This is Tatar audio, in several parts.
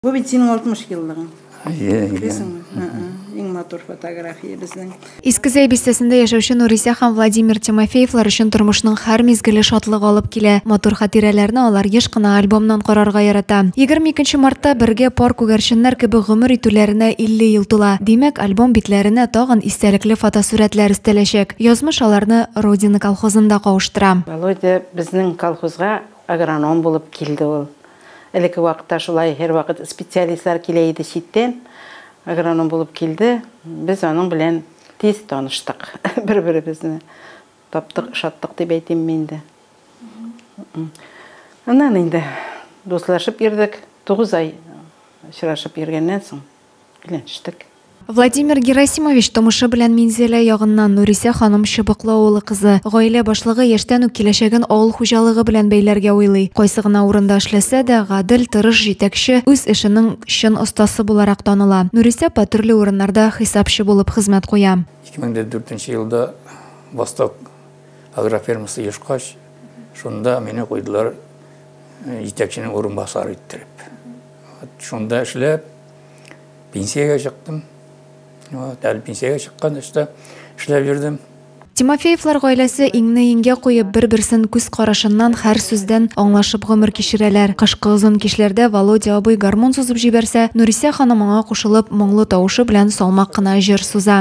Бу бит синең 60 еллыгың. Әйе, әйе. Иң матур фотография безнең. Иске Зәй бистәсендә яшәүче Нурисә һәм Владимир Тимофеевлар өчен тормышның һәр мизгеле шатлык алып килә. Матур хатирәләрне алар еш кына альбомнан карарга ярата. 22 мартта бергә пар күгәрченнәр кебек гомер итүләренә 50 ел тула. Димәк, альбом битләренә тагын истәлекле фотосурәтләр өстәләчәк. Язмыш аларны Родина колхозында кавыштыра. Володя безнең колхозга агроном булып килде ул. Элекке вакытта шулай һәрвакыт специалистлар килә иде читтән. Агроном булып килде. Без аның белән тиз таныштык. Бер-беребезне таптык, ошаттык дип әйтимме инде. Аннан инде дуслашып йөрдек. Тугыз ай очрашып йөргәннән соң. өйләнештек. Владимир Герасимович тумышы белән Минзәлә ягыннан, Нурисә ханым Чыбыклы авылы кызы. Гаилә башлыгы яшьтән үк киләчәген авыл хуҗалыгы белән бәйләргә уйлый. Кайсы гына урында эшләсә дә, гадел, тырыш җитәкче, үз эшенең чын остасы буларак таныла. Нурисә апа төрле урыннарда хисапчы булып хезмәт куя. 2004 нче елда Восток агрофермасы ешкач, шунда мине куйдылар җитәкченең урынбасары иттереп. Вот шунда эшләп, пенсиягә чыктым. Вот, әле пенсиягә чыккан эштә эшләп йөрдем. Тимофеевлар гаиләсе иңне иңгә куеп, бер-берсен күз карашыннан, һәр сүздән аңлашып гомер кичерәләр. Кышкы озын кичләрдә Володя абый гармун сузып җибәрсә, Нурисә ханым аңа кушылып, моңлы тавышы белән салмак кына җыр суза.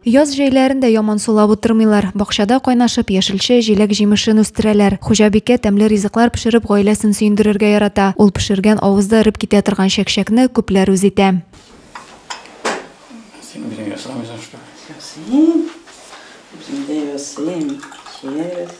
Яз җәйләрен дә яман сулап утырмыйлар. Бакчада кайнашып, яшелчә, җиләк-җимешен үстерәләр. Хуҗабикә тәмле ризыклар пешереп гаиләсен сөендерергә ярата. Ул пешергән авызда эреп китә торган чәкчәкне күпләр үз итә. Син үзең ясамыйсың что ли? Ясыйм. Үзем дә ясыйм. Чиэс.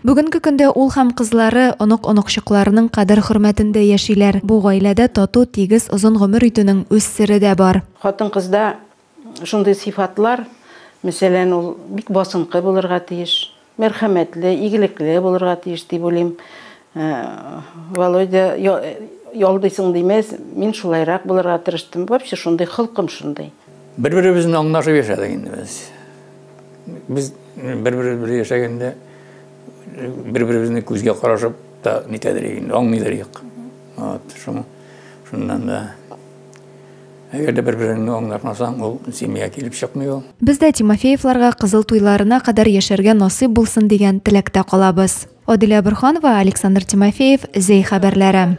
Бүгенге көндә ул һәм кызлары онык-оныкчыкларының кадер-хөрмәтендә яшиләр. Бу гаиләдә тату, тигез, озын гомер итүнең үз сере дә бар. Хатын-кызда Шундый сыйфатлар, мәсәлән, ул бик басынкы булырга тиеш, мәрхәмәтле, игелекле булырга тиеш дип уйлыйм. Э, Володя, ялдыйсың димәс, мин шулайрак булырга тырыштым. Вообще шундый холкым шундый. Бер-беребезне аңлашып яшәдек инде без. Без бер-беребез белән яшәгәндә бер-беребезне күзгә карашып та нитәдер инде, аңлыйдыр идек. Вот, шуңа шуннан да Әгәр дә бер-береңне аңлатмасаң, ул семья килеп чыкмый ул. Без дә Тимофеевларга кызыл туйларына кадәр яшәргә насыйп булсын дигән теләктә калабыз. Аделя Борһанова, Александр Тимофеев, Зәй хәбәрләре.